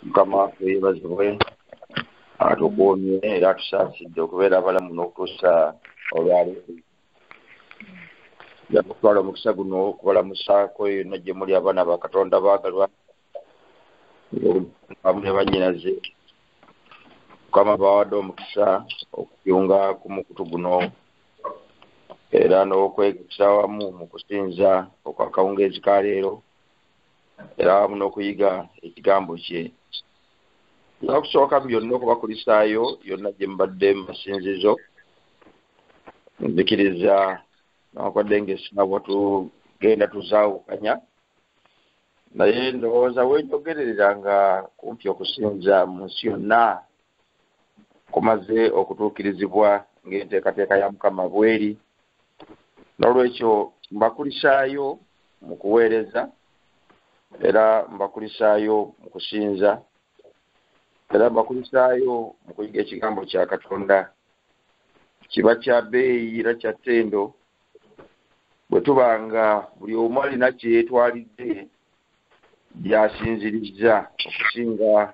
mukama waffe yebazibwe atukuumye era atusaasidde okubeera abalamu n'okutuusa olwali yakutwala omukisa guno okubalamusaako yonna gye muli abaana ba katonda baagalwa amu ne bannyinaze mukama bawadde omukisa okuyunga ku mukutu guno era n'okwegesa wamu mu kusinza okwakawungeezi ka leero era wamu n'okuyiga ekigambo kye nga kusooka byonna okubakulisaayo yonna gye mubadde mu masinzizo nzikiriza nawakwadde ngaesinawa tugenda tuzaawukanya naye ndowooza wenjogererera nga kumpi okusinza mu nsi yonna kumaze okutuukirizibwa ng'enteekateeka ya mukama bweri n'olwekyo mbakulisaayo mu kuweereza era mbakulisaayo mu kusinza era mbakulisaayo mu kuyiga ekigambo kya katonda kiba kya beeyi era kya ttendo bwe tuba nga buli omu alina kye yeetwalidde byasinzirizza okusinga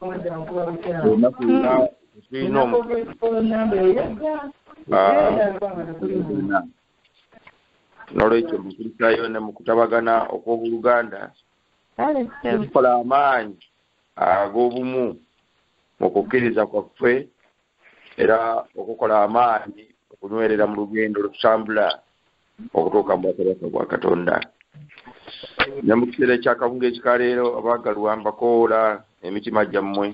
olunaku luna tulina omu Ah, n'olwekyo mu nkulisayo ne mu kutabagana okw'obuluganda tukola amaanyi ag'obumu mu kukkiriza kwaffe era okukola amaanyi okunywerera mu lugendo lutambula okutuuka mu bwakabaka bwa katonda ne mu kiseera ekyakabunga ekikaleero abaagalwa mbakoola emitima gyammwe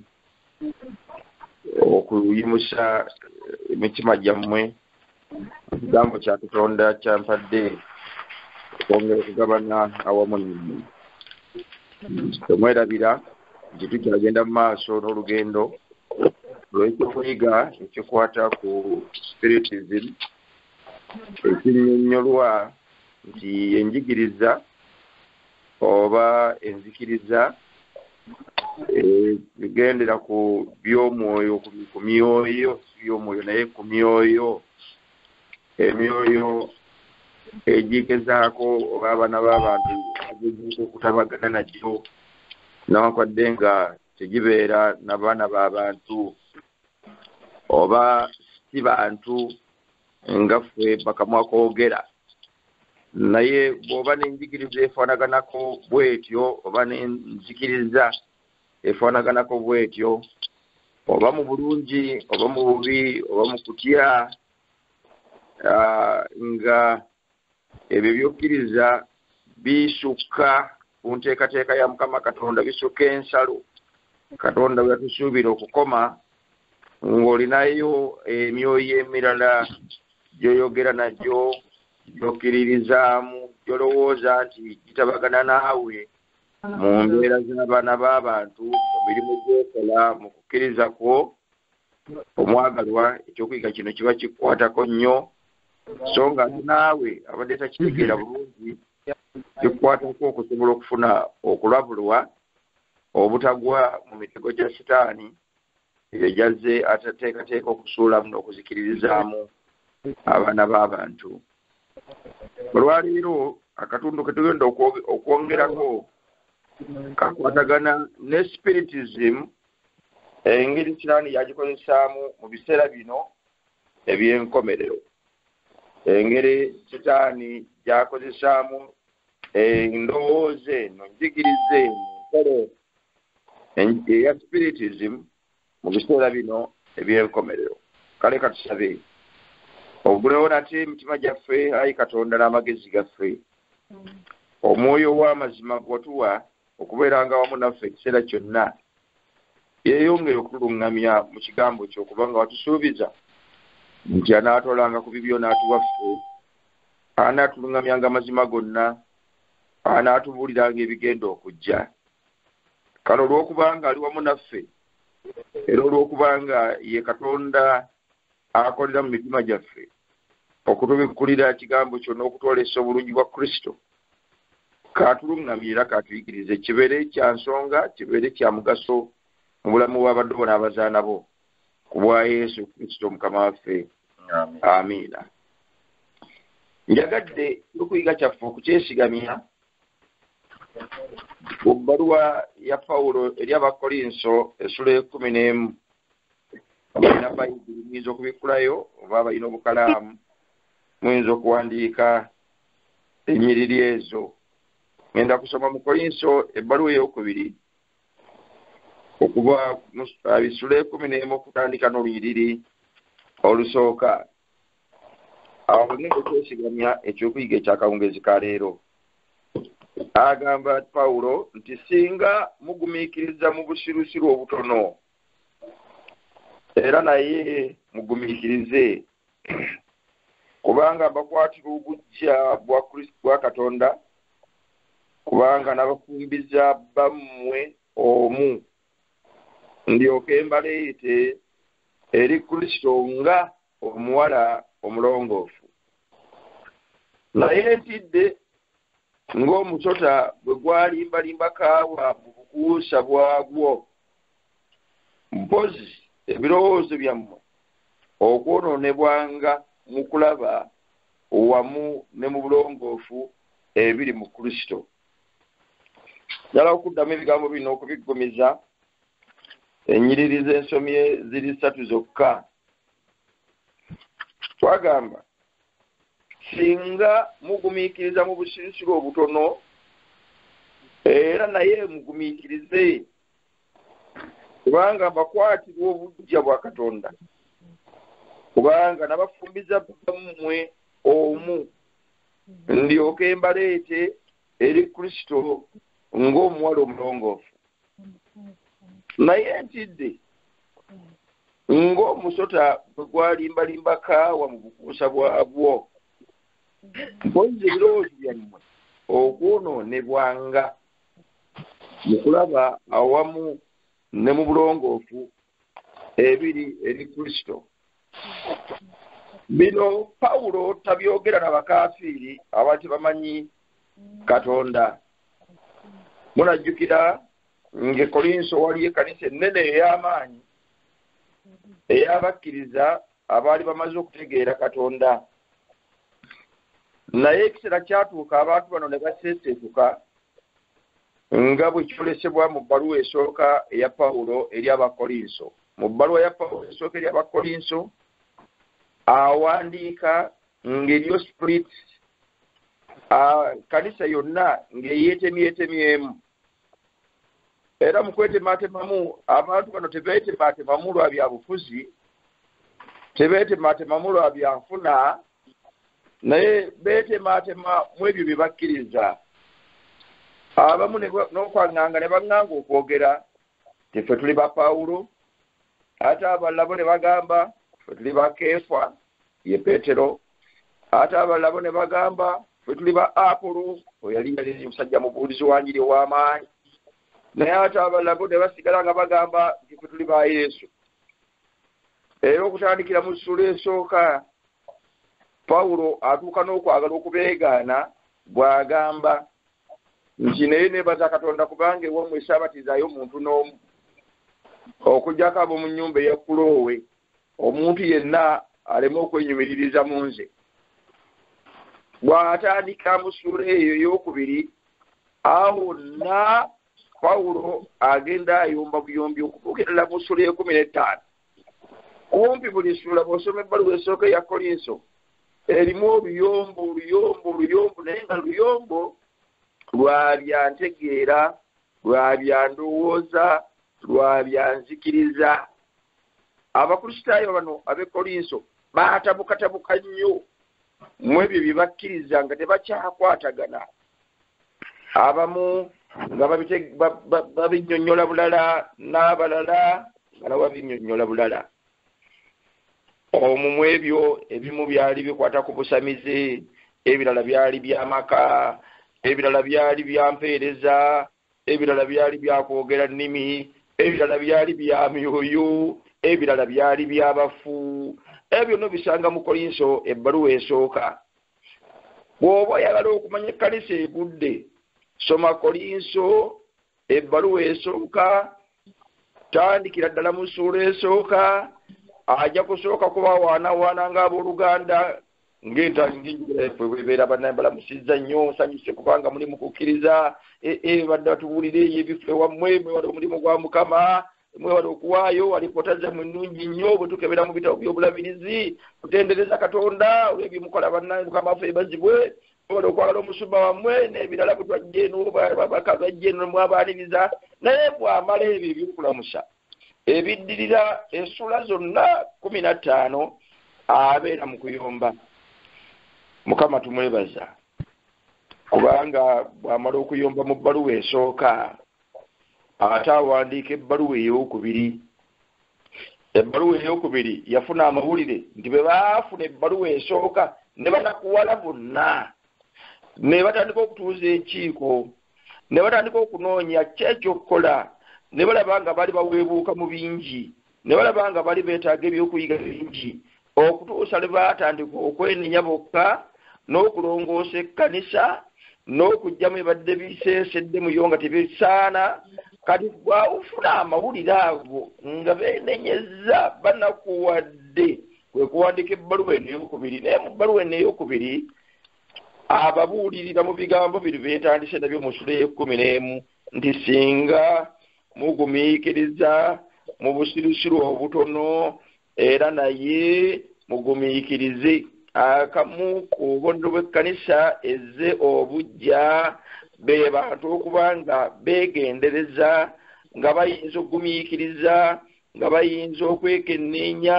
okuyimusa emitima gyammwe ekigambo kya katonda kyampadde okwongera okugabana awamu nammwe temwerabira nti tukyagenda mu maaso n'olugendo olw'ekyokuyiga ekikwata ku spiritism ekinyonyolwa nti enjigiriza oba enzikiriza egendera eh, ku by'omwoyo ku myoyo by'omwoyo naye ku myoyo emyoyo egigezaako oba abaana b'abantu egigezaako okutabagana nagyo nawankwadde nga tegibeera na baana b'abantu oba si bantu nga ffe bakamwa koogera naye bw'oba n'enjigiriza efaanaganako bw'etyo oba n'enzikiriza efaanaganako bw'etyo oba mu bulungi oba mu bubi oba mu kutya nga ebyo byokkiriza bisukka ku nteekateeka ya mukama katonda bisukka ensalo katonda bwe yatusuubira okukoma ng'olinayo emyoyo emirala gyoyogera nagyo gyokkiririzaamu gyolowooza nti gitabagana naawe mu mbeera z'abaana b'abantu mu mirimu gyokola mu kukkiriza kwo omwagalwa ekyokuyiga kino kiba kikwatako nnyo so nga naawe abadde takitegeera bulungi kikwatako okusobola okufuna okulabulwa obutagwa mu mitego gya sitaani ebyo gyazze atateekateeka okusuulamu n'okuzikiririzaamu abaana b'abantu olwaleero akatundu ke tugenda okwongerako kakwatagana ne spiritism engeri sitaani yagikozesaamu mu biseera bino eby'enkomerero engeri sitaani gyakozesaamu endowooza eno njigiriza eno nkole eya spiritism mu biseera bino ebyenkomerero kale katusabe ogulewo nate emitima gyaffe ayi katonda n'amagezi gaffe omwoyo w'amazima gwatuwa okubeeranga awamu naffe ekiseera kyonna yeeyongere okutuluŋŋamya mu kigambo kyo kubanga watusuubiza nti anaatwalanga ku bibyo n'atuwaffe anaatuluŋŋamyanga amazima gonna anaatubuuliranga ebigenda okujja kale olw'okubanga ali wamu naffe era olw'okubanga ye katonda akolera mu mitima gyaffe okutubikkulira kigambo kyo n'okutwolesa obulungi bwa kristo katulungamye era katuyigirize kibeere kya nsonga kibeere kya mugaso mu bulamu bw'abaddu bona abazaana bo ku bwa yesu kristo mukama waffe amiina njagadde okuyiga kyaffe okukyesigamya ku bbaluwa ya pawulo eri abakolinso esula ekumi n'emu olina bayibuli muyinza okubikkulayo oba abalina obukalaamu muyinza okuwandiika ennyiriri ezo ngenda kusoma mu koyinso ebbaluwa eyokubiri okuva bisula ekumi n'emu okutandika n'olunyiriri olusooka awo bagenda okwesigamya ekyokuyiga ekyakawungeezi ka leero agamba pawulo nti singa mugumiikiriza mu busirusiru obutono era naye mugumiikirize kubanga mbakwatira obujja bwa kristo bwa katonda kubanga nabafumbiza bammwe omu ndyoke mbaleete eri kristo nga omuwala omulongoofu naye ntidde ng'omusota bwe gwalimbalimba kaawa mu bukuusa bwagwo mpozi ebirowoozo byammwe okwonoonebwanga mu kulaba wamu ne mu bulongoofu ebiri mu kristo njala okuddamu ebigambo bino okubiggumiza enyiriri z'ensomye ziri ssatu zokka twagamba singa mugumiikiriza mu busirisiro obutono era naye mugumiikirize kubanga bakwatirwa obujja bwa katonda kubanga nabafumbiza bammwe omu ndyoke mbaleete eri kristo ng'omuwala omulongoofu naye ntidde ng'omusota bwe gwalimbalimba kaawa mu bukuusa bwabwo mpozi ebirowoozo byammwe okwonoonebwanga mu kulaba awamu ne mu bulongoofu ebiri eri kristo bino pawulo tabyogera na bakafiiri abali tebamanyi katonda munajjukira ngaekolinso waliyo ekanisa ennene ey'amaanyi eyabakkiriza abaali bamaze okutegeera katonda naye ekiseera kyatuuka abantu bano ne baseeseetuka nga bwe kyolesebwa mu bbaluwa esooka eya pawulo eri abakolinso mu bbaluwa ya pawulo esooka eri abakolinso awandiika ng'eriyo split kanisa yonna ng'eyeetemyetemyemu era mu kwetematemamu abantu bano tebetematemamu lwa byabufuzi tebetematemamu lwa byanfuna naye betematema mu ebyo bye bakkiriza abamu n'okwaŋŋanga ne baŋŋanga okwogera tife tuli ba pawulo ate abalabo ne bagamba fe tuli ba keefa ye petero ate abalala bo ne bagamba bwe tuli ba apulu oyo yali naliri musajja mubuulizi wanjiri ow'amaanyi naye ate abalala bo ne basigala nga bagamba nti fe tuli ba yesu era okutandikira mu ssula esooka pawulo atuuka n'okwagala okubeegaana bw'agamba nti naye neebaza katonda kubanga ewamu esaabatizayo omuntu n'omu okugyako ab'omu nnyumba eya kuloowe omuntu yenna aleme okwenyumiririza mu nze bw'atandika mu ssuula eyo ey'okubiri awo nna pawulo agenda ayomba buyombi okutuukirira mu ssuula ekumi n'ettaano kumpi buli ssuula bw'osoma ebbaluwa esooka eya kolinso erimu oluyombo oluyombo oluyombo naye nga luyombo lwa bya ntegeera lwa bya ndowooza lwa bya nzikiriza abakristaayo bano abekolinso baatabukatabuka nnyo mu ebyo bye bakkiriza nga tebakyakwatagana abamu nga babinyonyola bulala n'abalala nga nabo babinyonyola bulala omu mu ebyo ebimu byali bikwata ku busamize ebirala byali byamaka ebirala byali byampeereza ebirala byali byakwogera nnimi ebirala byali bya myoyo ebirala byali byabafu ebyo byonna obisanga mu kolinso ebbaluwa esooka bw'oba oyagala okumanya ekkanisa egudde soma kolinso ebbaluwa esooka tandikira ddala mu ssuula esooka ajja kusooka kubawaanawaana ng'abooluganda ng'enjogera yaffe bwebeera banaye balamusizza nnyo nsanyuse kubanga muli mu kukkiriza eh, eh, badde batubuulira eyo ebifo ewammwe mwewala omulimu gwa mukama mwewala okuwaayo alipoota zammwe nnungi nnyo bwe tukebera mu bitabo by'obulabirizi kutendereza katonda olw'ebimukola banaye mukama waffe ebazibwe mwewala okwagala omusumba wammwe n'ebirala bwe twajja eno babaka bajja eno mwabaaniriza naye bwamala ebyo ebyokulamusa ebiddirira esula zonna kumi na ttaano abeera mu kuyomba mukama tumwebaza kubanga bw'amala okuyomba mu bbaluwa esooka ate awandiika ebbaluwa ey'okubiri ebbaluwa ey'okubiri yafuna amawulire nti bwe baafuna ebbaluwa esooka ne banakuwala bonna ne batandika okutuuza enkiiko ne batandika okunoonya ki ekyokukola ne balaba nga bali baweebuuka mu bingi ne balaba nga bali beetaaga ebyokuyiga bingi okutuusa lwe baatandika okwenenya bokka n'okulongoosa ekkanisa n'okugyamu ebadde biseesedde muyo nga tebisaana kati bwawufuna amawulire ago nga beenenyezza banakuwadde kwe kuwandiika ebbaluwa eno eyokubiri naye mu bbaluwa eno eyokubiri ababuulirira mu bigambo bino byetandise nabyo mu sula eyekumi n'emu nti singa mugumiikiriza mu busirusiru obutono era naye mugumiikirize akamu ku bubonero bw'ekkanisa ezze obujja be bantu okuba nga beegendereza nga bayinza okugumiikiriza nga bayinza okwekenneenya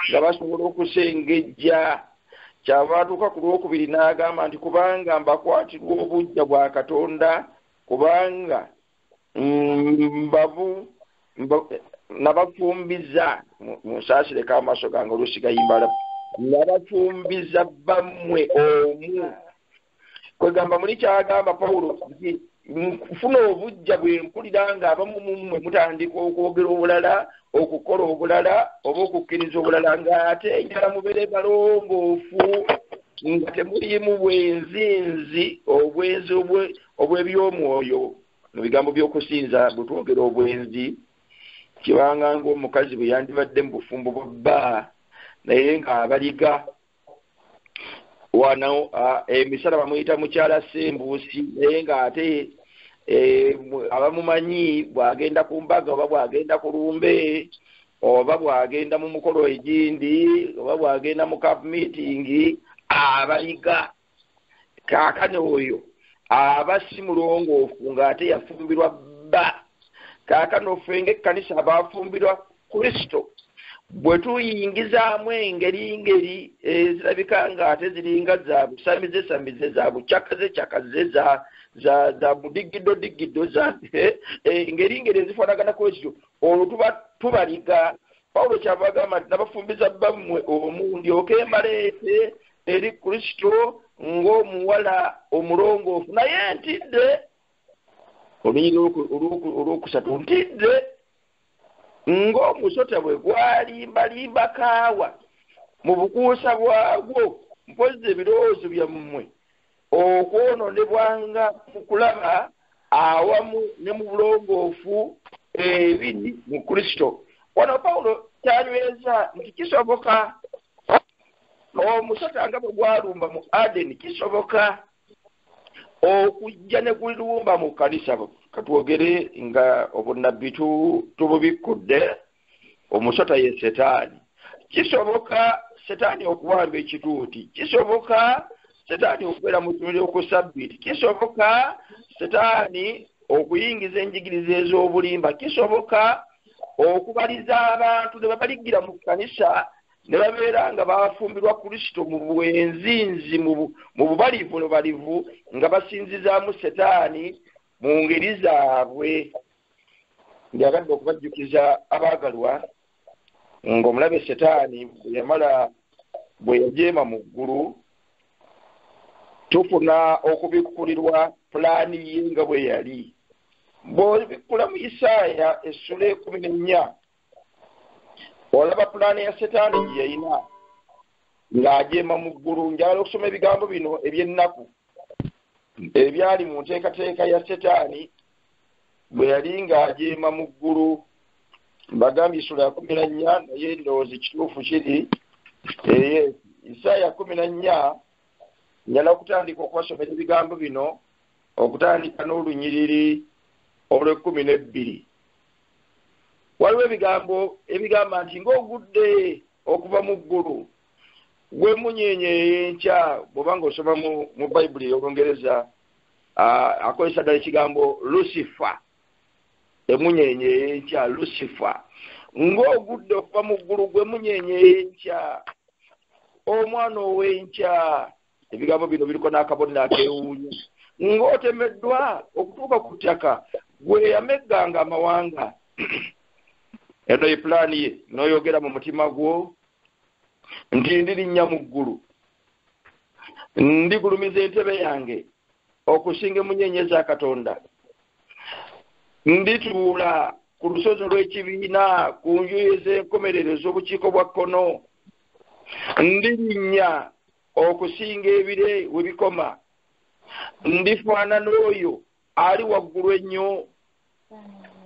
nga basobola okusengejja kyava atuuka ku lwokubiri n'agamba nti kubanga mbakwatirwa obujja bwa katonda kubanga mm, mbavu nabafumbiza munsaasire ka amaaso gange olusigayimala nabafumbiza bammwe omu kwegamba muli kyagamba pawulo nti nfuna obujja bwe mpulira ng'abamu mummwe mutandika okwogera obulala okukola obulala oba okukkiriza obulala ng'ate enjala mubeere balongoofu nga temuliimu bwenzinzi obwenzi obw'eby'omwoyo mu bigambo by'okusinza bwe twogera obwenzi kibanga ng'omukazi bwe yandibadde mu bufumbo bwa bba naye ng'abaliga wano emisala eh, bamuyita mukyala sembuusi naye ng'ate eh, abamumanyi bw'agenda ku mbaga oba bw'agenda ku lumbe oba bw'agenda mu mukolo egindi oba bw'agenda mu kapu miitingi abayiga kaakano oyo aba si mulongoofu ng'ate yafumbirwa bba kaakano ffe ng'ekkanisa abaafumbirwa kristo bwe tuyingizaamu engeri ngeri ezirabika ng'ate ziringa za busamize samize za bucakaze cakaze za za budigiddo digiddo za engeri eh, ngeri ezifaanagana kwezityo olwo tuba tubaliga pawulo kyava agamba nti nabafumbiza bbammwe omu ndyoke embaleete eri kristo ng'omuwala omulongoofu naye ntidde olunyiri olwokusatu ntidde ng'omusota bwe gwalimbalimba kaawa mu bukuusa bwagwo mpozzi ebirowoozo byammwe okwononebwanga mu kulaba awamu ne mu bulongoofu ebiri mu kristo wano pawulo kyanyweza nti kisoboka omusota nga bwe gwalumba mu adeni kisoboka okujja ne gulumba mu kanisa katwogere nga obunnabbi tububikkudde omusota ye setaani kisoboka setaani okuwamba ekituuti kisoboka setaani okubeera mu tumuli oku sabbiti kisoboka setaani okuyingiza enjigiriza ez'obulimba kisoboka okubaliza abantu ne babaligira mu kkanisa ne babeera nga bafumbirwa kristo mu bwenzinzi mu bubalivu nubalivu nga basinzizaamu setaani mu ngeri zaabwe ng'agadde okubajjukiza abaagalwa ng'omulabe setaani bwe yamala bwe yajeema mu ggulu tufuna okubikkulirwa pulaani ye nga bwe yali bw'obikkula mu isaaya essula ekumi n'ennya olaba pulaani ya setaani gye yayina ng'ajeema mu ggulu njagala okusoma ebigambo bino eby'ennaku ebyali mu nteekateeka ya setaani bwe yali ng'ajeema mu ggulu mbagambye esula ya kumi na nnya naye ndowooza ekituufu kiri eye isaaya kumi na nnya njala okutandika okubasomera ebigambo bino okutandika n'olunyiriri olw'ekkumi n'ebbiri waliwo ebigambo ebigamba nti ng'ogudde okuva mu ggulu gwe munyenye eyenkya bwoba nga osoma mu bayibuli ey'olungereza akozesa ddala ekigambo lusifa emunyenye eyenkya lusifa ng'ogudde okuva mu ggulu gwe munyenye eyenkya omwana ow'enkya ebigambo bino biriko n'akabonero akewuunyo ng'otemeddwa okutuuka ku ttaka gwe yamegganga amawanga eno ye pulaani ye n'oyogera mu mutima gwo nti ndirinnya mu ggulu ndigulumiza entebe yange okusinga emunyenye za katonda ndituula ku lusozi olw'ekibiina ku njuyi ez'enkomerero ez'obukiiko bwa kkono ndirinnya okusinga ebire we bikoma ndifaanana oyo ali waggulu ennyo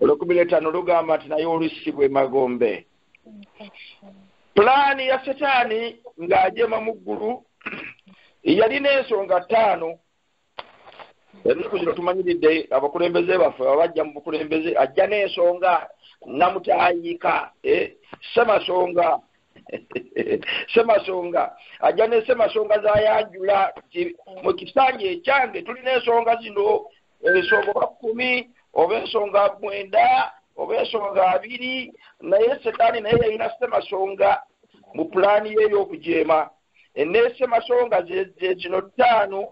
olwekumi n'etaano lugamba nti naye olusibwa emagombe pulaani ya setaani ng'ajema mu ggulu yalina ensonga ttaano ebizibu kino tumanyiridde abakulembeze baffe babajja mu bukulembeze ajja n'ensonga namutayiika eh, semasonga semasonga ajja ne semasonga zayanjula mu kisanja ekyange tulina ensonga zino ensonga oba kumi oba ensonga mwenda oba ensonga abiri naye setaani naye yalina semasonga mu pulaani ye ey'okujeema eneesemasonga zekino ttaano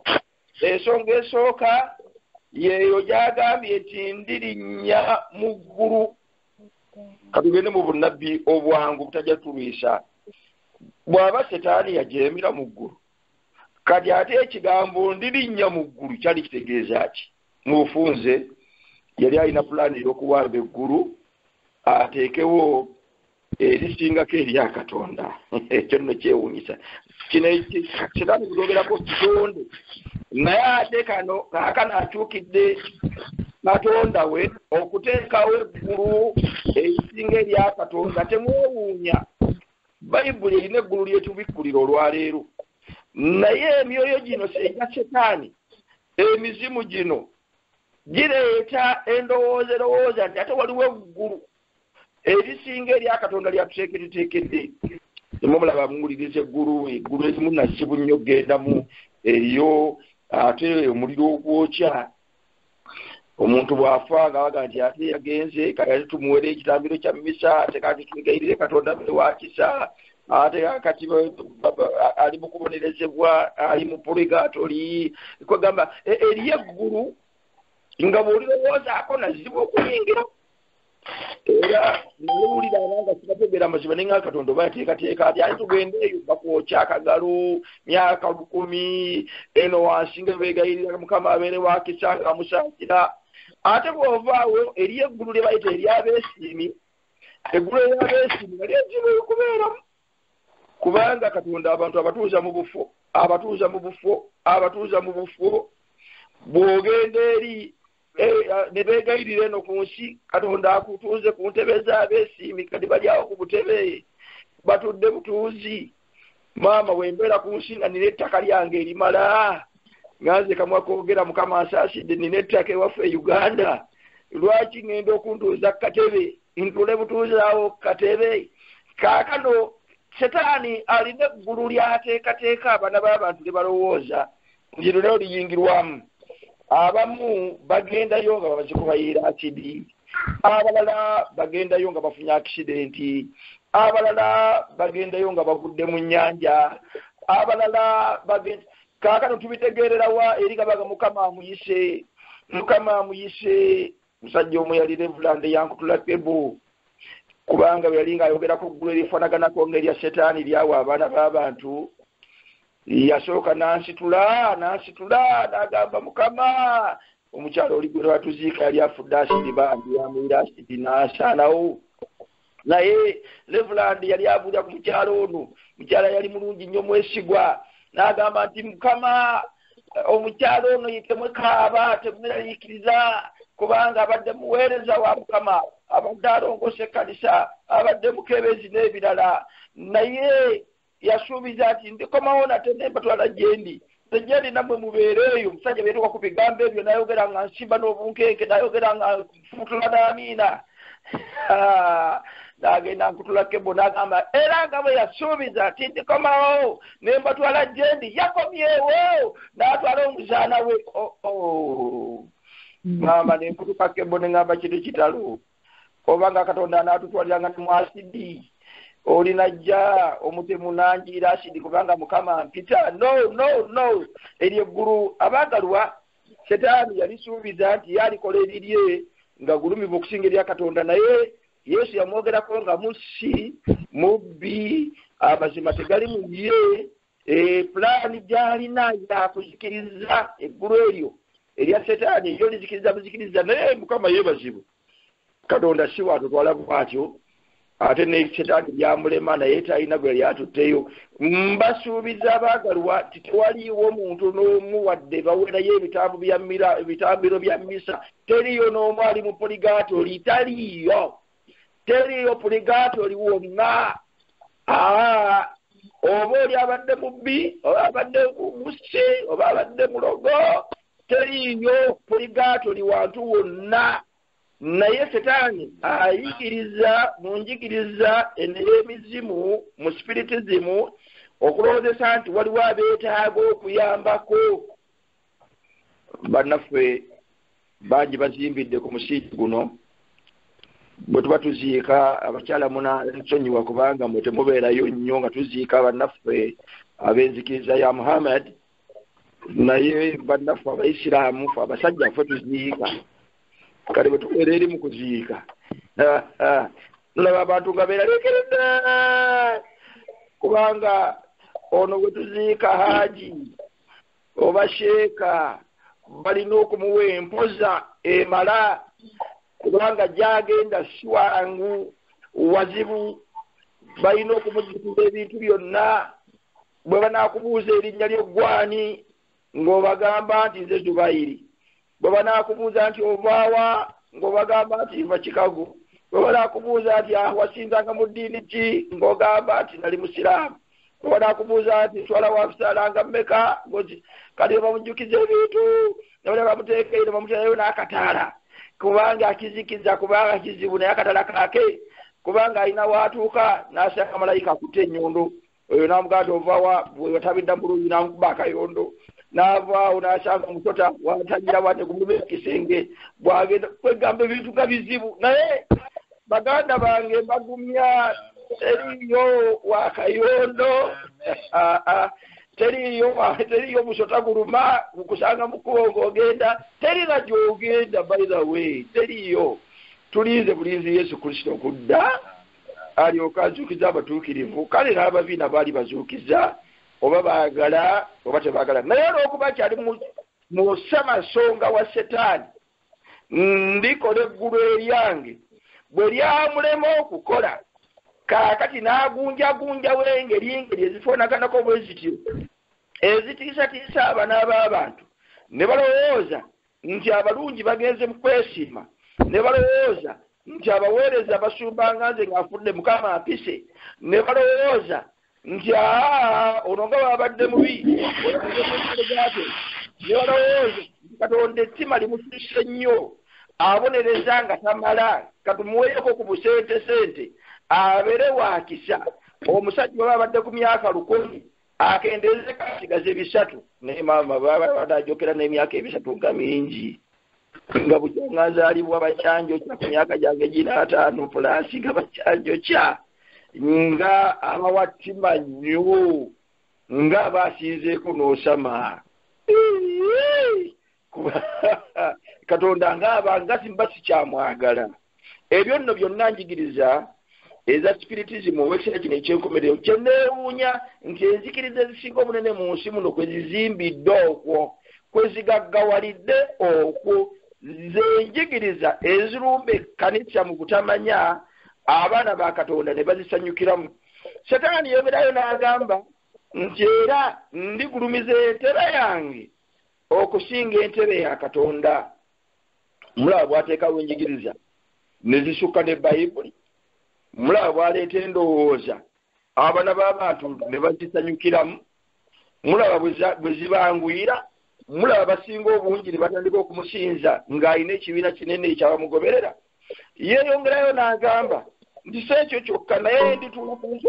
ensonga esooka yeeyo gyagambye nti ndirinnya mu ggulu katugende mu bunnabbi obwangu butajja tulwisa bw'aba setaani yajeemera mu ggulu kati ate ekigambo ndirinnya mu ggulu kyali kitegeeza ki mu bufunze yali alina pulaani ey'okuwamba eggulu ateekewo erisingako erya katonda ekyo nno kyewunyisa kino setaani kudogerako kitonde naye ate kano kaakano akyukidde katonda we okuteekawo eggulu erisinga erya katonda temwewuunya bayibuli erina eggulu lyetubikkulira olwaleero naye emyoyo gino egya setaani emizimu gino gireeta endowooza erowooza nti ate waliwo eggulu erisinga erya katonda lyatuteekereteekedde temumulaba muwuliriza eggulu eggulu erimu nazibu nnyo gendamu eriyo ate omuliro ogwokya omuntu bw'afa nga baga nti ate yagenze kati ate tumuwere ekitambiro kya misa ate kati twegayirire katonda be wakisa ate kati ali mu kubonerezebwa ali mu purigatoli kwegamba e, eriyo eggulu nga bw'olirowoozaako nazibu okuyingira era newulira abanga sibategeera mazima ne nga katonda oba yateekateeka ati aye tugende eyo bakwokya akagalo myaka lukumi eno wansi nga beegayirira mukama abeere wakisa nga amusaasira ate bw'ovaawo eri eggulu lye bayita eryabeesiimi eggulu eryabeesiimi nga lyezibu okubeeramu kubanga katonda abantu abatuuza mu bufo abatuuza mu bufo abatuuza mu bufo bw'ogenda eri Eh, ah, ne beegayirira eno ku nsi katonda akutuuze ku ntebe z'abeesiimi kati bali awo ku butebe batudde butuuzi maama wembeera ku nsi nga nina ettaka lyange erimala nga nze kamwa koogera mukama asaasidde nina ettaka ewaffe e uganda lwaki ŋŋenda okuntuuza ku katebe ntule butuuzi awo ku katebe kaakano setaani alina eggulu lyateekateeka abaana b'abantu ne balowooza buli luleo liyingirwamu abamu bagendayo nga bazikubayira akidi abalala bagendayo nga bafunye akisidenti abalala bagendayo nga bagudde mu nyanja abalala bagenda kaakano tubitegeererawa eri kabaga mukama amuyise mukama amuyise musajja omu yali revulande yankutula pebu kubanga bwe yali ng'ayogera ku ggulu erifaanaganako ng'erya setaani lyawa abaana b'abantu yasooka n'ansitula n'ansitula n'agamba mukama omukyalo oli gwe lwatuziika yali afudde asidi bambi amuyira asidi n'asaanawo naye revuland yali abuulira ku mukyalo ono mukyala yali mulungi nnyo mwesigwa n'agamba nti mukama omukyalo ono yitemwekaaba temunerayikiriza kubanga abadde muweereza wa mukama abadde alongosa ekkanisa abadde mukebezi n'ebirala naye yasuubiza nti ndikomawo nate nembatwala gyendi nze gyendi nammwe mubeere eyo omusajja beetuka ku bigambo ebyo nayogera nga nsimba n'obunkenke nayogera nga nfutula n'amiina nagenda nkutula kebo nagamba era nga bwe yasuubiza nti ndikomawo nembatwala gyendi yakomyewo natwala omuzaana we oh, oh. ngamba nenkutuka kebo nengamba kintu kitalo oba nga katonda anaatutwaliranga ne mu asidi olinajja omutemu nanjiira asidi kubanga mukama mpita no no no eryo eggulu abaagalwa setaani yalisuubiza nti ye alikola ebirye nga gulumivu okusinga erya katonda naye yesu yamwogerako nga musi mubbi amazima tegali mu ye Eh, pulaani gyalina yakuzikiriza eggulu eryo erya setaani eryo lizikiriza buzikiriza naye mukama yebazibu katonda si watutwala bwatyo ate ne setaani byamulema naye talina gwe yali atutteyo mbasuubiza abaagalwa titewaliiwo muntu n'omu wadde bawerayo ebitambiro bya misa teriyo n'omu ali mu poligaatoli taliiyo teriiyo puligaati oli wonna oba oli abadde mubbi oba abadde musi oba abadde mulogo teriiyo puligaati oli wantu wonna naye setaani ayigiriza mu njigiriza eney'emizimu mu sipiritizimu okulowoozesa nti waliwo abeetaaga okuyambako bannaffe bangi bazimbidde ku musingi guno bwe tuba tuziika abakyala muna nsonyiwa kubanga mwe temubeerayo nnyo nga tuziika bannaffe ab'enzikiriza ya muhammad naye bannaffe abaisiraamu fe abasajja fe tuziika kale bwe tubeera eri mu kuziika tulaba abantu nga beeraliikiridde kubanga ono bwe tuziika haaji oba sheeka balina okumuwa empoza emala kubanga gyagenda siwangu wazibu balina okumujjukiza ebintu byonna bwe banakubuuza erinnya ly'oggwani ng'obagamba nti nze zubayiri bwe banaakubuuza nti ovaawa ng'obagamba nti nva kikago bwe banaakubuuza nti ah, wasinzanga mu ddiini ki ng'ogamba nti nali musiraamu bwe banaakubuuza nti nswala wafisalanga mmeka ngoki kati bwe bamujjukiza ebintu ne bale bamuteekeyo ne bamuterayo n'akataala kubanga akizikiza kubanga kizibu naye akatala kake kubanga alina waatuuka n'asanga malayika akutte ennyundu oyo n'amugamba nti ovawa wewatabidda mu luuyi n'amukuba akayondo n'avaawo n'asanga omusota watangira bwate gumuba ekisenge bwagenda kwegamba ebintu nga bizibu naye baganda bange mbagumya teriyo wakayondo ah, ah. teriyo teriyo musota guluma kusanga mukuba ogogenda terina gyogenda by the way teriyo tulinze bulinzi yesu kristo okudda alyoke azuukize abatuukirivu kale n'ababi nabo ali bazuukiza oba baagala oba tebaagala naye olw'okuba kyali mu ssamasonga wa setaani ndikola eggulu eryange bwe lyamulema okukola kaakati n'agunjagunjawo engeri engeri ezifaanaganako bwe zityo ezitiisatiisa abana b'abantu ne balowooza nti abalungi bagenze mu kwesiima ne balowooza nti abaweereza basumbanga nze ng'afudde mukama ampise ne balowooza nti aa ono nga babadde mubi olaaate ne balowooza nti katonda ettima limususse nnyo abonereza nga tamala katumuweeko ku busente sente abeere wakisa omusajja oba abadde ku myaka lukumi akendeeze kasigaze bisatu naye maama babadde ajokera n'emyaka ebisatu nga mingi nga bujanga nzaalibwa bakyanjo kya ku myaka gyange gina ataano pulaasi nga bakyanjo kya nga abawattima nnyo nga baasinzeeko n'osama katonda ngaaba nga simba sikyamwagala ebyo nno byonna njigiriza eza spiritism owekisera kino ekyenkomerero kyeneewuunya nti enzikiriza ezisinga obunene mu nsi muno kwe zizimbidde okwo kwe zigaggawalidde okwo zenjigiriza ezirumba ekkanisa mu butamanya abaana ba katonda ne bazisanyukiramu setaani yeberayo n'agamba nti era ndigulumiza entera yange okusinga entebe ya katonda mulaba bwateekawo enjigiriza ne zisukka ne bayibuli mulaba bwaleeta endowooza abana b'abantu ne bazisanyukiramu mulaba bwe zibanguyira mulaba basinga obungi ne batandika okumusinza ng'alina ekibiina kinene ekyabamugoberera yeeyongerayo n'agamba nti si ekyo kyokka naye ndituutuusi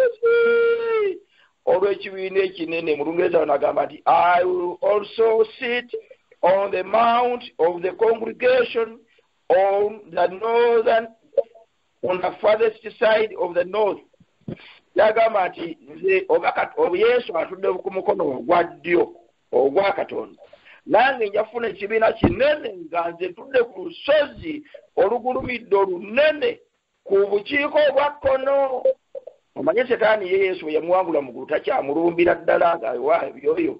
olw'ekibiina ekinene mu lungereza wano agamba nti i will also sit on the mount of the congregation on the northern on the farthest side of the north yagamba nti nze oba yesu atudde ku mukono ogwa ddyo ogwa katonda nange nja kufuna ekibiina kinene nga nze tudde ku lusozi olugulumidde olunene ku bukiiko obwa kkono omanye setaani ye yesu bwe yamuwangula mugulu takyamulumbira ddala nga wa ebyoyo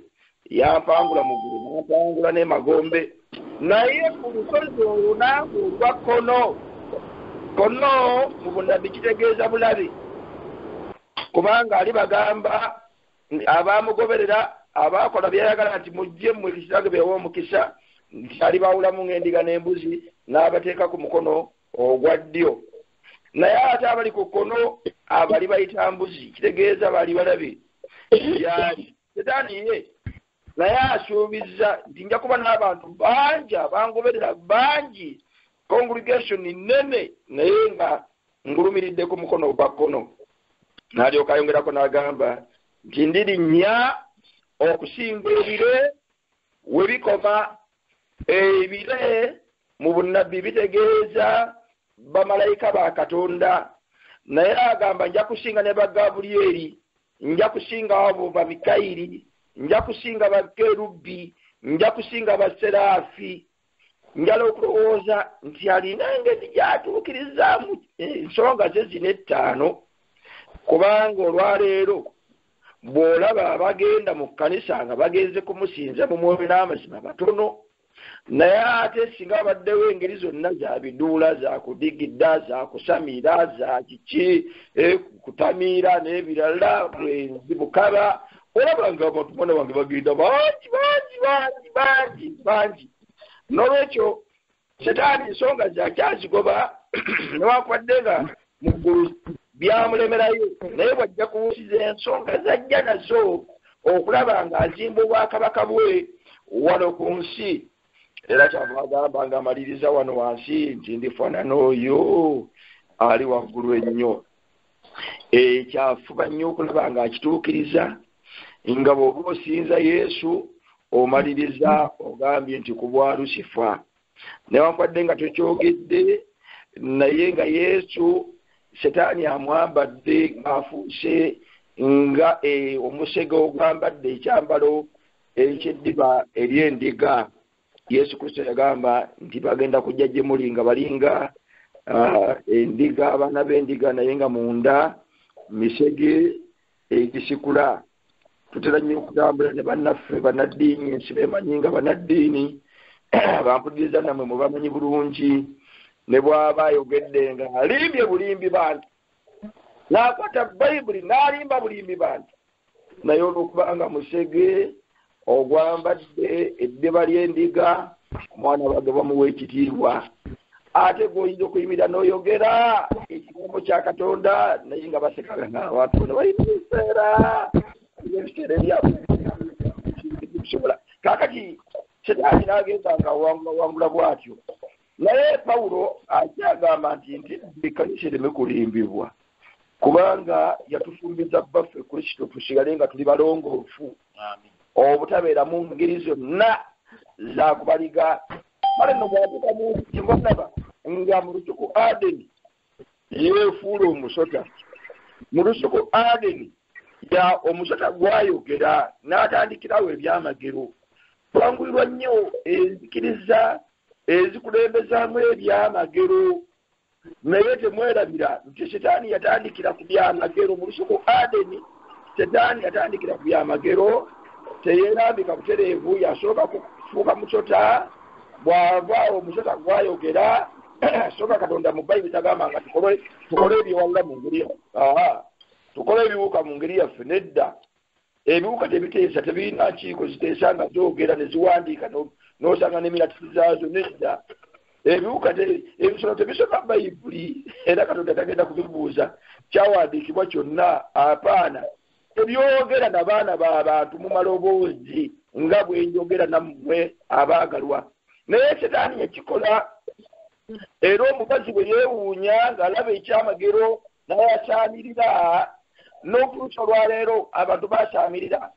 yampangula mugulu nampangula n'emagombe naye ku lusozi olunaku olwa kkono kkono mu bunabbi kitegeeza bulabe kubanga ali bagamba abaamugoberera abaakola byeyagala nti mujje mmwe kitange beewa omukisa nti alibaawulamu ng'endiga n'embuzi n'abateeka ku mukono ogwa ddyo naye ate abali ku kkono abali bayita mbuzi kitegeeza bali balabi yaali setaani ye naye asuubiza nti nja kuba n'abantu bangi abangoberera bangi congregation nene naye nga ngulumiridde ku mukono ogwa kkono n'alyoka ayongerako n'agamba nti ndirinnya okusinga ebire we bikoma ebire mu bunnabbi bitegeeza bamalayika ba katonda naye agamba nja kusinga ne bagabulyeri nja kusinga abo babikayiri nja kusinga bakerubbi nja kusinga baseraafi njala okulowooza nti alina engeri gyatuukirizaamu ensonga ze zina ettaano kubanga olwaleero bw'olaba abagenda mu kkanisa nga bagenze kumusinza mu mwoyo n'amazima batono naye ate singa abaddewo engeri zonna za biduula za kudigida za kusamira za kiki eh, kutamiira n'ebirala bwenzi bukaba olaba nga abantu mwana wange bagenda bangi bangi bangi bangi bangi nolwekyo setaani ensonga zakyazigoba newakubadde nga muggulu byamulemerayo naye bwajja kuwusiza ensonga zajja nazo okulaba nga azimba obwakabaka bwe wano ku nsi era kyava agamba nga amaliriza wano wansi nti ndifaanana oyo ali waggulu ennyo eh, kyafuba nnyo okulaba ng'akituukiriza nga bw'oba osinza yesu omaliriza ogambye nti ku bwa lusifa newankubadde nga tokyogedde naye nga yesu setaani amwambadde ng'afuuse nga eh, omusege ogwambadde ekyambalo ekyeddiba ery'endiga yesu kristo yagamba nti bagenda kujja gye muli nga balinga ah, endiga abaana b'endiga naye nga munda misege egisikula tutera nnyo okutambula ne bannaffe bannaddiini ensi bemanyi nga bannaddiini bampuliriza nammwe mubamanyi bulungi ne bwaba ayogedde nga alimbye bulimbi bantu n'akwata bayibuli n'alimba bulimbi bantu naye olwokubanga musege ogwambadde eddiba ly'endiga omwana wange bamuwa ekitiibwa ate gwoyinza okuyimirira n'oyogera ekigambo kya katonda naye nga basekala ngaabantu bona balina ebiseera ebiseera ebyakusobola kakati setaani nagenda nga wangula wangula bwatyo Naye Pawulo akyagamba nti ntidde ekkanisa ereme kulimbibwa kubanga yatufumbiza bbaffe Kristo tusigale nga tuli balongoofu obutabeera mu ngeri zonna za kubaliga kale no bwatuka mu nti nga mu lusuku Adeni yeefuula omusota mu lusuku adeni ya omusota gwayogera n'atandikirawo ebyamagero twanguyirwa nnyo enzikiriza ezikulembezaamu ebyamagero naye temwerabira nti sitaani yatandikira ku byamagero mu lusuku adeni sitaani yatandikira ku byamagero teyerambika butereevu yasooka kufuuka musota bw'ava omusota gwayogera soka katonda mu bayibuli tagamba nga tukole tukole ebyewawula mu ngeri aha tukole ebiwuka mu ngeri yaffe nedda ebiwuka tebiteesa tebirina nkiiko ziteesa nga zogera neziwandiika nosanga nemiratisi zaazo nedda ebiwuka ebisolo tebisoma bayibuli era katonda tagenda kubibuuza kyawandiikibwa kyonna apaana Tebyogera na baana ba bantu mu maloboozi nga bwe njogera nammwe abaagalwa. Naye Setaani yakikola, era omukazi bwe yeewuunya ng'alaba ekyamagero n'ayasaamirira, n'okutuusa olwaleero abantu basaamirira.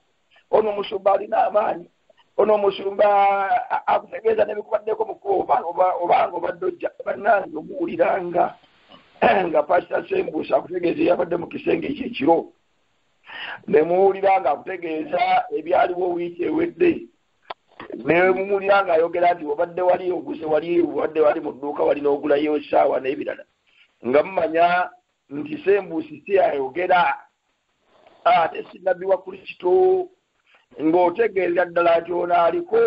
Ono omusumba alina amaanyi. ono omusumba akutegeeza nebikubaddeko mukuba obanga obadde ojja banange omuwuliranga nga pasita sembuusa akutegeeza eyabadde mu kisenge ekyo ekiro nemuwulira nga akutegeeza ebyaliwo wiiki ewedde nemuwulira nga ayogera nti obadde wali oguze wali obadde wali mu dduuka wali n'ogulayo esaawa n'ebirala nga mumanya nti sembuusi siyayogera ate sinabbi wa kristo ng'otegeerera ddala nti ono aliko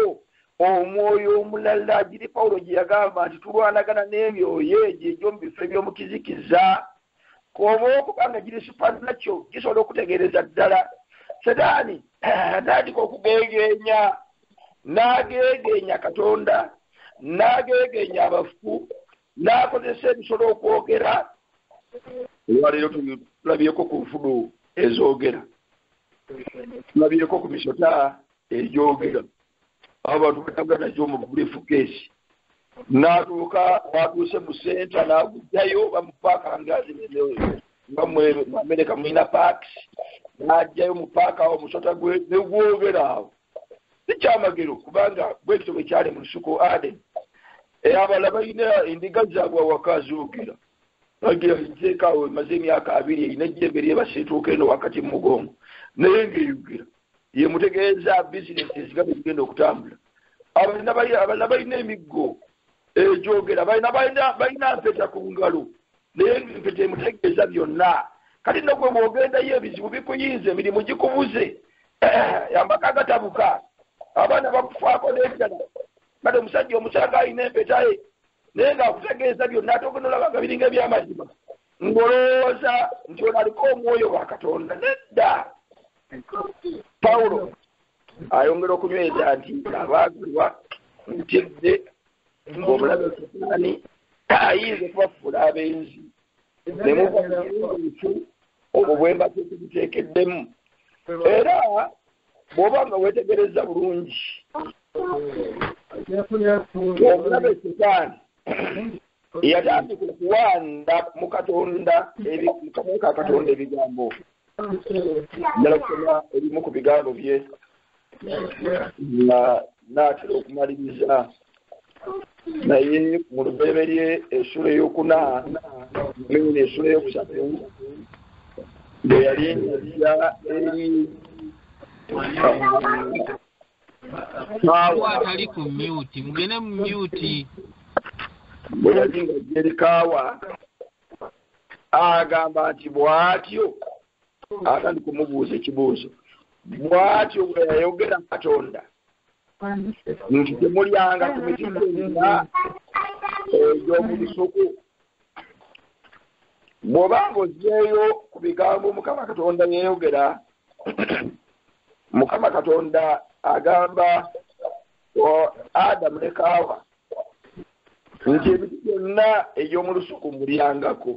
omwoyo omulala giri pawulo gye yagamba nti tulwanagana n'emyoyo egyo egy'omu bifo eby'omu kizikiza koba okuba nga giri supanakyo gisobola okutegeereza ddala setaani atandika okugeegeenya n'ageegeenya katonda n'ageegeenya abafu n'akozesa ebisolo okwogera olwaleero tulabyeko ku nfudu ezoogera tulabyeko ku misota egyogera abo bantu batambula nagyo mu bulifukeesi n'atuuka watuuse mu senta n'agujjayo bamupaaka ngazi nga mwamereka mulina paaks n'ajjayo mu paaka awo musota gwe negwogera awo sikyamagero kubanga bwekityo bwekyali mu lusuku aden abala balina endiga zaabwe awaka zoogera bagira nzeekaawo emaze emyaka abiri erina ejjembe lyebasiituuka eno wakati mu mugongo naye ngaeyogera ye mutegeeza bizinesi ezigabe zigenda okutambula abalina balina emiggo egyogera balina mpeta ku ngalo naye ebintu temutegeeza byonna kati no gwe bwogendayo ebizibu bikuyinza emirimu gikubuze amaka agatabuka abaana bakufaako n'ebirala kati omusajja omusanga alina empetaye naye ng'akutegeeza byonna ate ogenda olaba nga biringa ebyamazima ng'olowooza nti ono aliko omwoyo wa katonda nedda pawulo ayongera okunyweza nti abaagalwa ntidde ng'omulabe setaani ayinza okubafuula abenzi ne mubaensi obwo bwemba tekibuteekeddemu era bw'oba nga weetegereza bulungi omulabe setaani yatandika okuwanda mu katonda katonda ebigambo njala kusoma ebimu ku bigambo bye nga naatera okumaliriza naye mu lubereberye esula eyokuna mene esula eyokusatu bwe yali nja eri atali ku myuti mugende mu myuti bwe yali nga jerikaawa agamba nti bw'atyo atandi kumubuuza ekibuuzo bw'atyo bwe yayogera katonda nti temulyanga ku miti gyonna egy'omu lusuku bw'oba ng'ozzeeyo ku bigambo mukama katonda yayogera mukama katonda agamba adamu ne kaawa nti ebintu byonna eby'omu lusuku mulyangako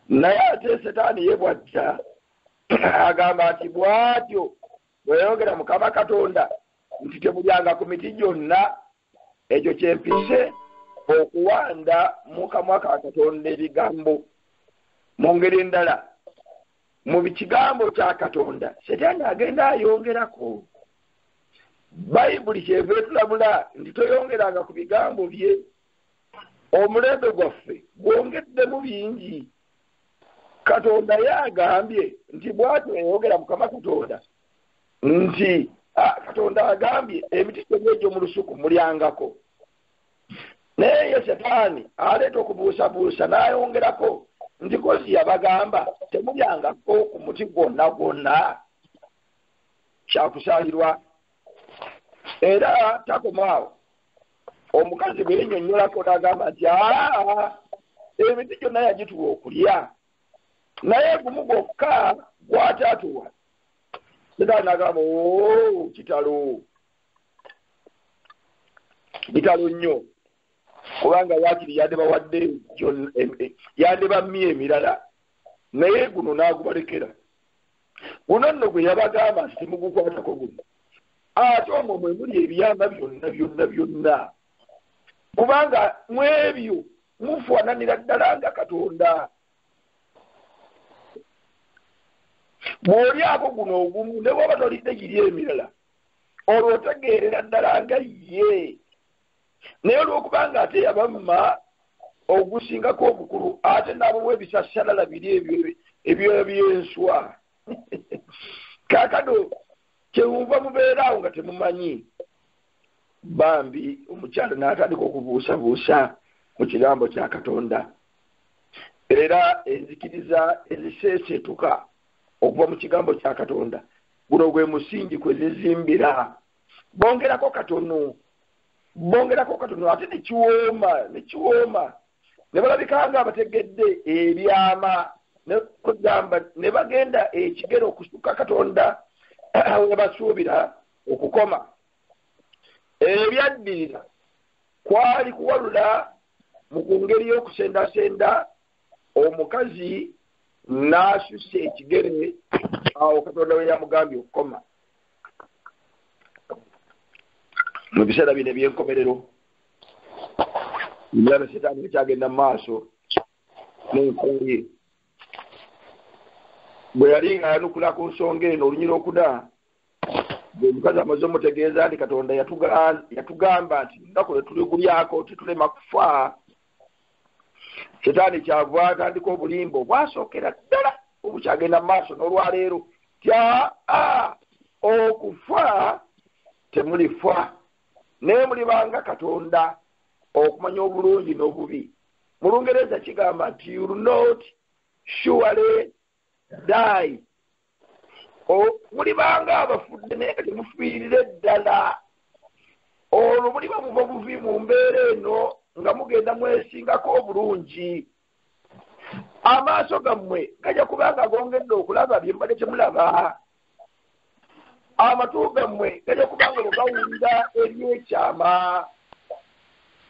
naye ate setaani ye bwajja agamba nti bwatyo bweyayogera mukama katonda nti temulyanga ku miti gyonna ekyo kyempise okuwanda mukamwa ka katonda ebigambo mu ngeri endala mu kigambo kya katonda setaani agenda ayongerako bayibuli kyeva etulabula nti toyongeranga ku bigambo bye omulembe gwaffe gwongeddemu bingi katonda ye agambye nti bwatyo yayogera mukama katonda nti katonda agambye emiti gyonna egyo mu lusuku mulyangako naye ye setaani aleeta okubuusabuusa n'ayongerako nti kozi yabagamba temulyangako ku muti gwonna gwonna kyakusaalirwa era takomaawo omukazi bwe yenyonyolako n'agamba nti aa emiti gyonna yagituwa okulya naye gumu gwokka gwataatuwa setaani n'agamba o kitalo bitalo nnyo kubanga wakiri yandibawadde yandibamye emirala naye guno n'agubalekera guno nno gwe yabagamba simugukwatako guno ate omwo mwe muli ebyama byonna byonna byonna kubanga mu ebyo mufaananira ddala nga katonda bw'olyako guno ogumu ne bwaba tolidde giri emirala olwo otegeerera ddala nga ye naye olwokuba nga ate yabamma ogusingako obukulu ate n'abawa ebisasalala biri ebyo ebyoya by'enswa kakano kyewuva mubeeraawo nga temumanyi bambi omukyalo n'atandika okubuusabuusa mu kigambo kya katonda era enzikiriza eziseeseetuka okuva mu kigambo kya katonda guno gwe musingi kwe zizimbira bongerako katono bongerako katono ate nekiwooma nekiwooma ne balabika nga abategedde ebyama kugamba ne bagenda ekigero okusuka katonda we basuubira okukoma ebyaddirira kwali kuwalula mu ku ngeri y'okusendasenda omukazi n'asusa ekigere awo katonda we yamugambye okukoma mu biseera bino ebyenkomerero emirano setaani ekyagenda mu maaso nenkoye bwe yali ng'ayanukula ku nsonga eno olunyira okuda omukazi amaze omutegeeza nti katonda yatugamba nti lunaku lwe tuli kulyako titulema kufa setaani kyava atandika obulimba obwasookera ddala obukyagenda mu maaso n'olwaleero tya okufa temulifa naye mulibanga katonda okumanya obulungi n'obubi mu lungereza kigamba nti you not surely daayi mulibanga abafudde naye nga temufiirire ddala olwo muliba muva buvi mu mbeera eno nga mugenda mwesingako obulungi amaaso gammwe gajja kubanga gongedde okulaba bye mubadde temulaba amatu gammwe gajja kubanga bwegawulira ebyekyama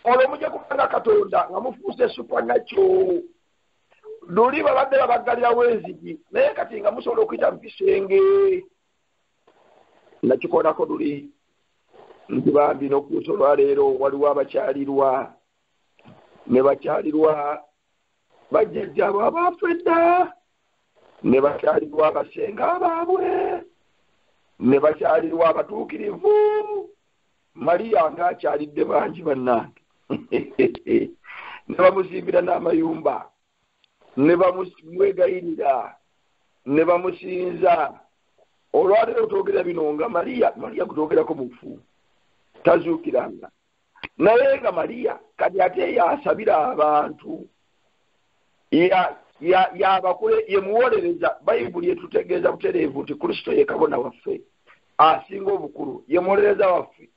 olwo mujja kubanga katonda nga mufuuse supanakyo luli babadde babaggalirawo enzigi naye kati nga musobola okuyita mu kisenge nakikolako luli nti bambi nokuusa olwaleero waliwo abakyalirwa ne bakyalirwa bajjajjaabo abaafu edda ne bakyalirwa abasenga abaabwe ne bakyalirwa abatuukirivu maria nga akyalidde bangi bannange ne bamuzimbira n'amayumba ne bamwegayirira ne bamusinza olwaleero twogera bino nga maria maria gutwogerako mufu tazuukiranga naye nga maria kati ate yaasabira abantu yabakule ye muwolereza bayibuli etutegeeza butereevu nti kristo ye kabona waffe asinga obukulu ye muwolereza waffe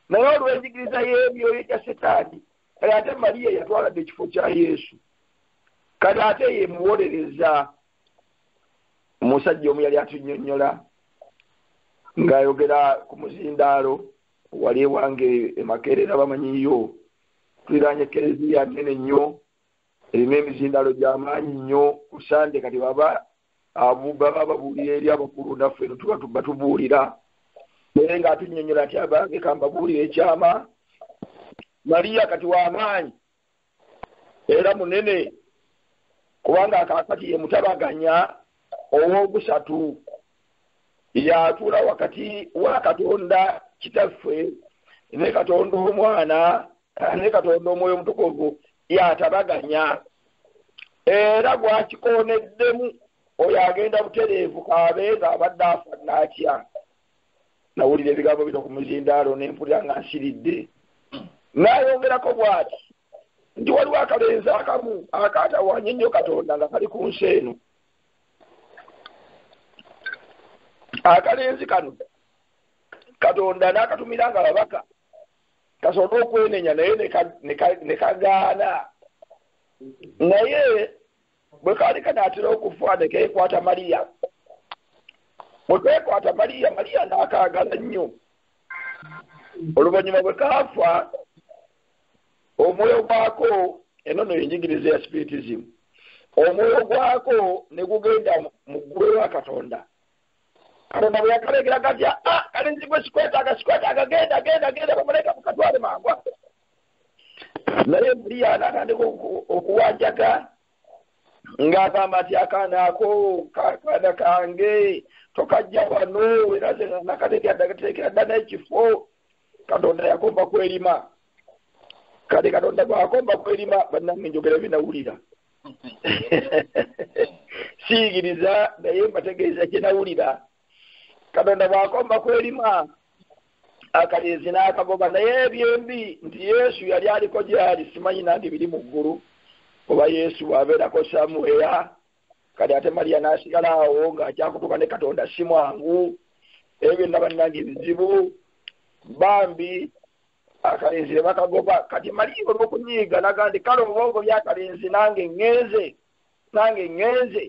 naye olw'enjigiriza y'emyoyo gya setaani kale ate mariya yatwaladde ekifo kya yesu kale ate ye muwolereza omusajja omu yali atunyonyola ng'ayogera ku muzindaalo wali ewange emakerera bamanyiyo tuliraanye kereziya nene nnyo erina emizindalo gyamaanyi nnyo ku sande kati baba baba babuulira eri abakulu naffe eno tuba tuba tubuulira naye nga atunyonyola ati abange kambabuulira ekyama maliya kati wamaanyi era munene kubanga akakati ye mutabaganya ow'okusatu yatuula wakati wa katonda kitaffe ne katonda omwana ne katonda omwoyo omutukuvu yatabaganya era gwakikooneddemu oyo agenda butereevu kaabe ng'abadde afa naatya nawulira ebigambo bino ku muzindaalo ne mpulira nga nsiridde n'ayongerako bw'ati nti waliwo akalenzi akamu akaatawanye nnyo katonda nga kali ku nsi eno akalenzi kano katonda n'akatumira nga babaka kasobole okwenenya naye ne kagaana naye bwe kaali kanaatera okufa ne keekwata maliya bwe keekwata maliya maliya n'akaagala nnyo oluvannyuma bwe kaafa omwoyo gwako eno no yenjigiriza ya spiritism omwoyo gwako ne gugenda mu ggulu ewa katonda katonda bwe yakalengera gatya a ah, kale nzigwe sikwetaaga sikwetaaga genda genda genda bamuleka mukatwale mangwa naye muliya natandika okuwanjaga ng'agamba nti akaana ako kaana kange tokajja wano era nakatekateekera dda n'ekifo katonda yakomba kwelima kati katonda bwakomba kwelima banange njogera byenawulira siyigiriza naye mbategeeza kyenawulira katonda bwakomba kwelima akalenzi n'akagoba naye ebyembi nti yesu yali aliko gyali simanyi nange biri mu ggulu oba yesu bwabeerako samuweya kati ate mariya n'asigala awo ng'akyakutuka ne katonda si mwangu ebyo byonna bannanga ebizibu bambi akalenzi ne bakagoba kati mariya olw'okunyiiga naga nti kale oba ogobye akalenzi nange ŋŋenze nange ŋŋenze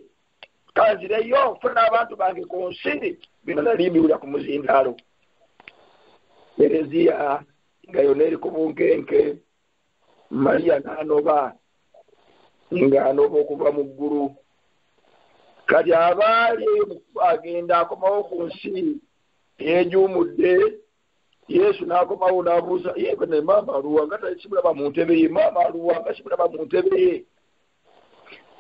kanzireyo funa abantu bange ku nsi bino nali mbiwulira ku muzindaalo ereziya nga yona eri ku bunkenke mariya n'anoba ng'anoba okuva mu ggulu kati abaali eyo mukuba agenda akomawo ku nsi yejuumudde yesu n'akomawo n'abuuza yebe ne maama aluwa nga tasimulaba mu ntebe ye maama aluwa nga simulaba mu ntebe ye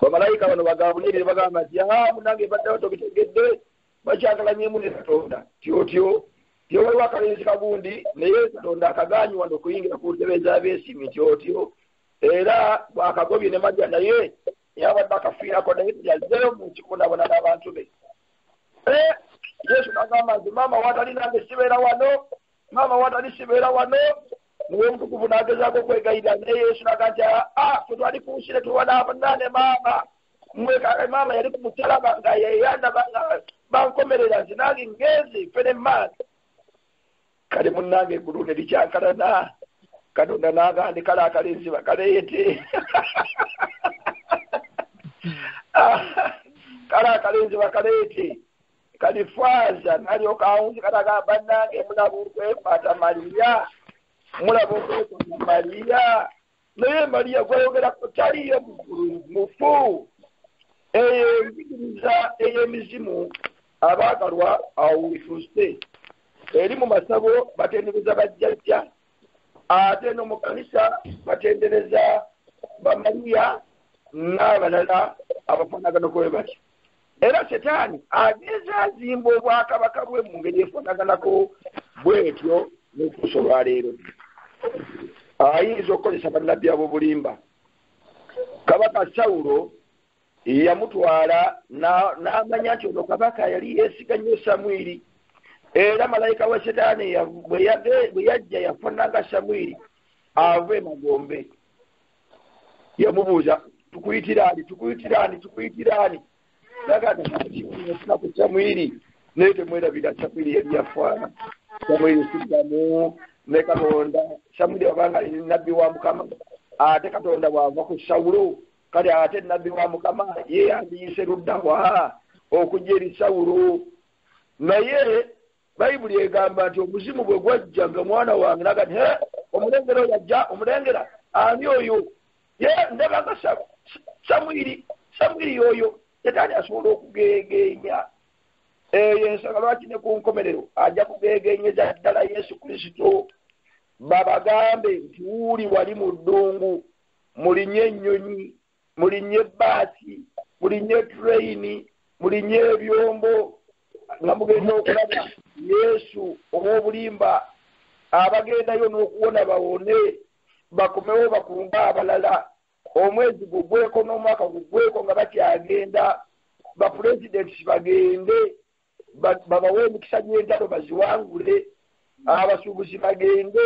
bamalayika bano bagabulire bagamba nti ahaa munange baddawo tobitegedde bakyagalanyemu ne katonda tyotyo ye waliwo akalenzi kagundi naye katonda akagaanyi wano okuyingira ku ntebe z'abeesiimi tyotyo era bwakagobye ne maja naye yabadde akafiirako naye yazzeyo mu kikundabona n'abantu be eh, yesu nagamba nti maama watali nange sibeera wano maama watali sibeera wano muwe omutukuvu n'agezaako okwegayirira naye yesu naga nti aa ah, ah, fetwali ku nsi ne tuwa n'abanaane maama mwe kale maama yali ku musalaba nga yeyandaba nga bankomerera nti nange ngenzi fene maaka kale munange egulu ne likyankalana katonda nagandi kale akalinziba kaleyete kale akalinziba kaleyete kalifaaza nalyoka awunzi katagamba nange mulaba okwekwata maliya mulaba okwekwata maliya naye mariya gwayogerako taliyo mufu eyo enjigiriza ey'emizimu abaagalwa awo wefuse eri mu masabo batendereza bajjajja ate no mu kanisa batendereza bamariya n'abalala abafaanagana kwe batyo era setaani agezaazimba obwakabaka bwe mu ngeri efaanaganako bwetyo n'okuusa olwaleero ayinza okukozesa bannabbi ab'obulimba kabaka sawulo yamutwala n'amanya nti ono kabaka yali yeesiga nnyo samwiri era malayika wa setaani bwe yajja yafaananga samwiri ava emagombe yamubuuza tukuyitiraani tukuyitiraani tukuyitiraani nagaaku samwiri naye temwerabira samwiri yali yafaana samwiri siddamu ne katonda samwiri abanga ali nabbi wa mukama ate katonda bwava ku sawulo kale ate nabbi wa mukama ye yandiyise luddawa okujja eri sawulo naye bayibuli egamba nti omuzimu bwe gwajja nga omwana wange naga nti omulengera oyo ajja omulengera ani oyo ye ndaba nga samwiri samwiri oyo setaani asobola okugeegeenya eyo ensonga lwaki ne ku nkomerero ajja kugeegeenyeza ddala yesu kristo babagambe nti wuuli wali mu ddungu mulinye ennyonyi mulinye ebbaasi mulinye etureyini mulinye ebyombo nga mugenda okulaba yesu ow'obulimba abagendayo n'okuwona bawone bakomewo bakunga abalala omwezi gugweko n'omwaka gugweko nga bakyagenda bapulezidenti kibagende babawe emikisa gy'entalo baziwangule abasuubuzi bagende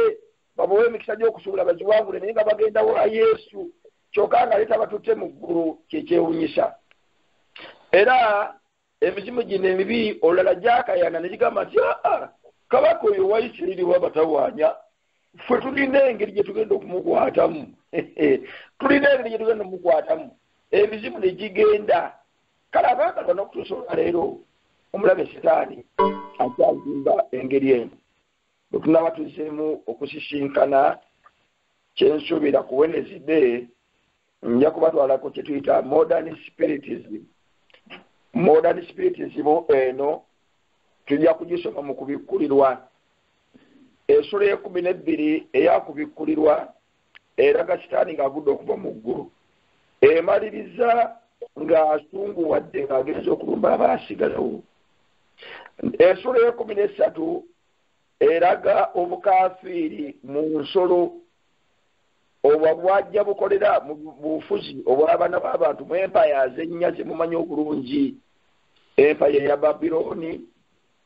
babawe emikisa gy'okusuubula baziwangule naye nga bagenda wa yesu kyokka nga leeta batutte mu ggulu kyekyewunyisa era emizimu gino emibi olulala gyakayana ne gigamba nti aa ah, ah, kabaka oyo wa isirairi wabatawaanya ffe tulina engeri gye tugenda okumukwatamu tulina engeri gye tugenda okumukwatamu emizimu ne gigenda kale abaagalwa n'okutuusa olwaleero omulabe sitaani akyazimba engeri eno bwe tunaba tuzzeemu okusisinkana kyensuubira ku wenezide nja kubatwalako kye tuyita modern spiritism modern spiritism eno tujja kugisoma mu kubikkulirwa esula ekumi n'ebbiri eyakubikkulirwa eraga sitaani ng'agudde okuva mu ggulu emaliriza ng'asunguwadde ng'agenza okulumba abaasigalawo esula eyekumi n'essatu eraga obukafiiri mu nsolo obwa bwajja bukolera mu bufuzi obw'abaana b'abantu mu empaya azennya zemumanyi obulungi empaya eya babilooni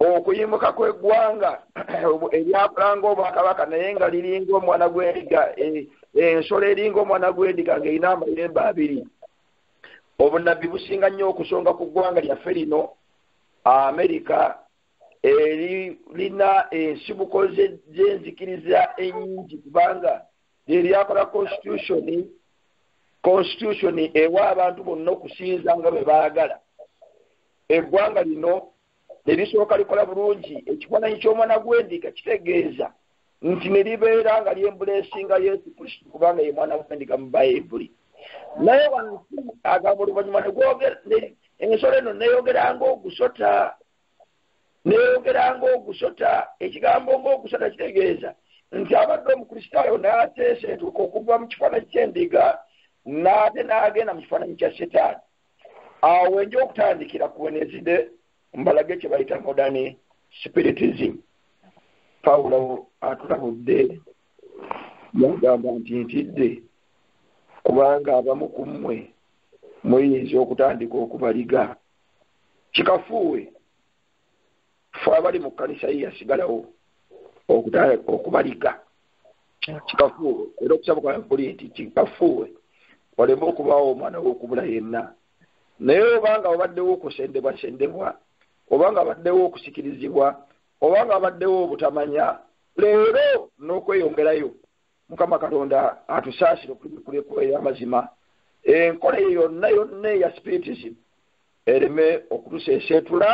okuyimuka kw'eggwanga eryakula ng'obwakabaka naye nga liringa omwana gw'endiga e, e, ensolo eringa omwana gw'endiga ng'erina amayembe abiri obunabbi businga nnyo okusonga ku ggwanga lyaffe lino amerika eririna ensibuko z'enzikiriza ennyingi kubanga lyeryakola konsitutyuni konsitutyuni ewa abantu bonna okusinza nga bwe baagala eggwanga lino erisooka likola bulungi ekifaananyi ky'omwana gw'endiga kitegeeza nti ne libeera nga lyembula esinga yesu kristo kubanga ye mwana gw'endiga mu bayibuli naye wansi agamba oluvannyuma ensolo eno neyogera ngaogusota neyogera ngaogusota ekigambo ngaogusota kitegeeza nti abadde omukristaayo n'ateeseetuka okuva mu kifaananyi ky'endiga n'ate n'agenda mu kifaananyi kya setaani awo wenja okutandikira ku wenezide mbalage kye bayita modern spiritism pawulo atulabudde yagamba nti ntidde kubanga abamu ku mmwe muyinza okutandika okubaliga kikafuuwe fe abali mu kkanisa ye yasigalawo okubaliga kikafuuwe era okusaba kwa kuli nti kikafuuwe waleme okubaawo omwana w'okubula yenna naye obanga obaddewo okusendebwasendebwa obanga abaddewo okusikirizibwa obanga abaddewo obutamanya leero n'okweyongerayo mukama katonda atusaasire okubikula ekkubo ey'amazima enkola eyo yonna yonna eya spiritism ereme okutuseeseetula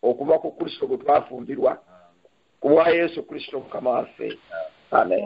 okuva ku kristo gwe twafumbirwa ku bwa yesu kristo mukama waffe amen